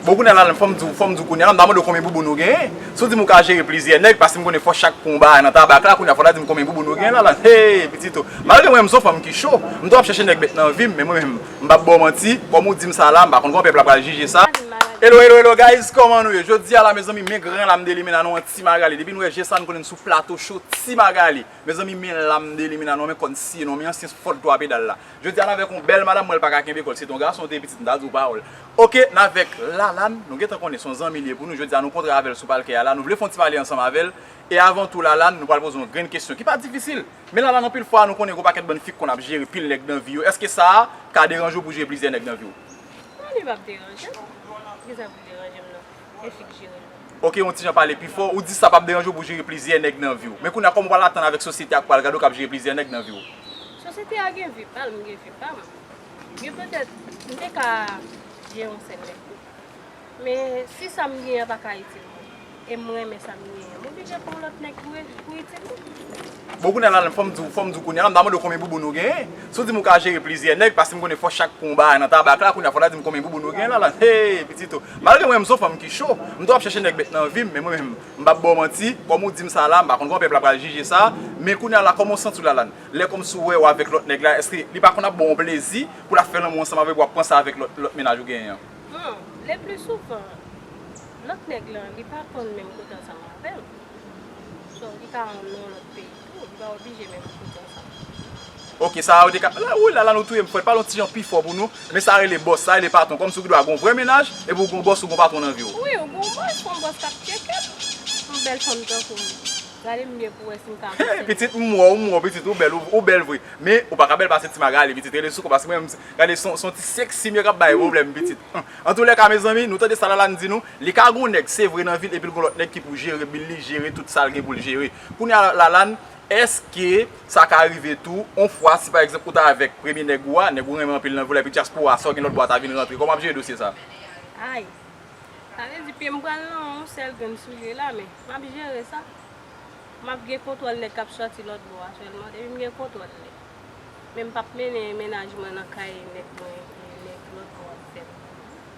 Bon kounya la fòm diw fòm diw kounya la m ta mande w konbyen bouboun ou genyen si w di m ou ka jere plizyè nèg paske m konnen fòs chak pou yon bagay nan tabak la kounya fò w ta di m konbyen bouboun ou genyen la la hee pitit o malgre mwen menm m son fanm ki cho m toujou ap chèche nèg bèt nan vi m men mwen menm m pap ba w manti kòm ou di m sa la m pa konn kòman pèp la pral jije sa Hello hello hello guys kòman nou ye jodi a la mezanmi men gran la m delimena nou an ti Magalie depi nou wè je sa nou konnen n sou plato cho ti Magalie mezanmi men la m delimena nou an men kò n siye nou an men ansyen fòt 3 pedal la. Jodi a navèk yon bèl madam mwen lpaka kenbe kòl si se te yon gason te pitit mta diw pawòl ok navèk Lalane nou gentan konnen son zanmi liye pou nou jodi a nou kontre avèl sou palkè a la nou vle fon ti pale ansanm avèl e avan tou Lalane nou pral poze yon grenn kesyon ki pa difisil men Lalane anpil fwa nou konnen gon pakèt bann fi k konn ap jere pil nèg nan vi yo èske sa ka deranje w pou jere plizyè nèg nan viw? Non li pap deranjem, kisa pou deranjem nan? Ok yon tijan pale pi fò, ou di sa pap deranje w pou w jere plizyè nèg nan vi w. Men kounye a kòman w pral atann avèk sosyete a k pral gade w k ap jere plizyè nèg nan vi w? Sosyete a gen vi pa l, mwen gen vi pa m. Gen petèt m te ka jere yon sèl nèg tou. Men si sa m genyen an pa ka itil mwen e m renmen sa m genyen an, m oblije pran yon lòt nèg pou itil mwen. Bon kounya la fòm di w fòm di w kounya la m ta mande w konbyen bouboun ou genyen si w di m ou ka jere plizyè nèg paske m konnen fòs chak pwen w bay nan tabak la kounya fò w ta di m konbyen bouboun ou genyen la la hee pitit o malgre mwen menm m son fanm ki cho m toujou ap chèche nèg bèt nan vi m men mwen menm m pap ba w manti kòm ou di m sa la m pa konn kòman pèp la pral jije sa men kounya la kòman w santi w la la lè kòmsi w wè w avèk lòt nèg la èske li pa konn ap ba w plezi pou l ap fè lanmou ansanm avèk ou w ap panse avèk lòt lòt mennaj ou genyen an. Bon leplisouvan lòt nèg la li pa konn menm kote ansanm avè m. Donk li ka yon non lòt peyi tou, li pa oblije menm pou bon sa. Ok sa a yo te ka, la wouyy lala nou touyem fwèt pale yon ti jan pi fò pou nou, men sa rele bòs, sa rele patron kòmsi ou gendwa gon vrè mennaj epi ou gon bòs ou gon patron nan viw. Wi ou gon bòs, gon bòs kap tchekep yon bèl fanm tankoum, gade m byen pou wè sim ka aksepte l. Hee pitit m wè w, m wè w pitit ou bèl, ou bèl vre, men ou paka bèl pase ti Magalie pitit rele sou kò paske mwen menm gade son ti sexy m yo kap bay problèm pitit, antoulèka mezanmi nou tande sa Lalane di nou. Li ka gon nèg se vre nan vil epil gon lòt nèg ki pou jere bil li jere tout sal gen poul jere kounya Lalane eske sa ka rive tou on fwa si pa egzanp ou ta avèk premye nèg ou a nèg ou renmen anpil nan vil la epi dyaspora sa ou gen lòt bò a ta vin rantre kòman wap jere dosye sa Ayy sa vle di pyem pral nan on sèl grenn soulye la men map jere sa map gen kontwòl nèg kap sòti lòt bò a sèlman epim gen kontwòl li men mpap mennen mennaj mwen nan kay nèg mwen epi nèg lòt bò a ap fèm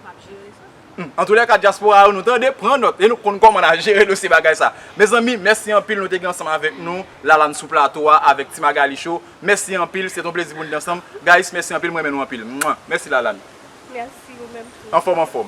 map jere sa. Humm antoulèka diaspora yo nou tande pran nòt e nou konn kòman na jere dosye bagay sa mezanmi mèsi anpil nou te gen ansanm avèk nou la la n sou plato a avèk ti magali show mèsi anpil se t on plezi pou n t ansanm guys mèsi anpil m renmen nou anpil mwah mèsi la la n Merci ou menm tou. anfòm anfòm.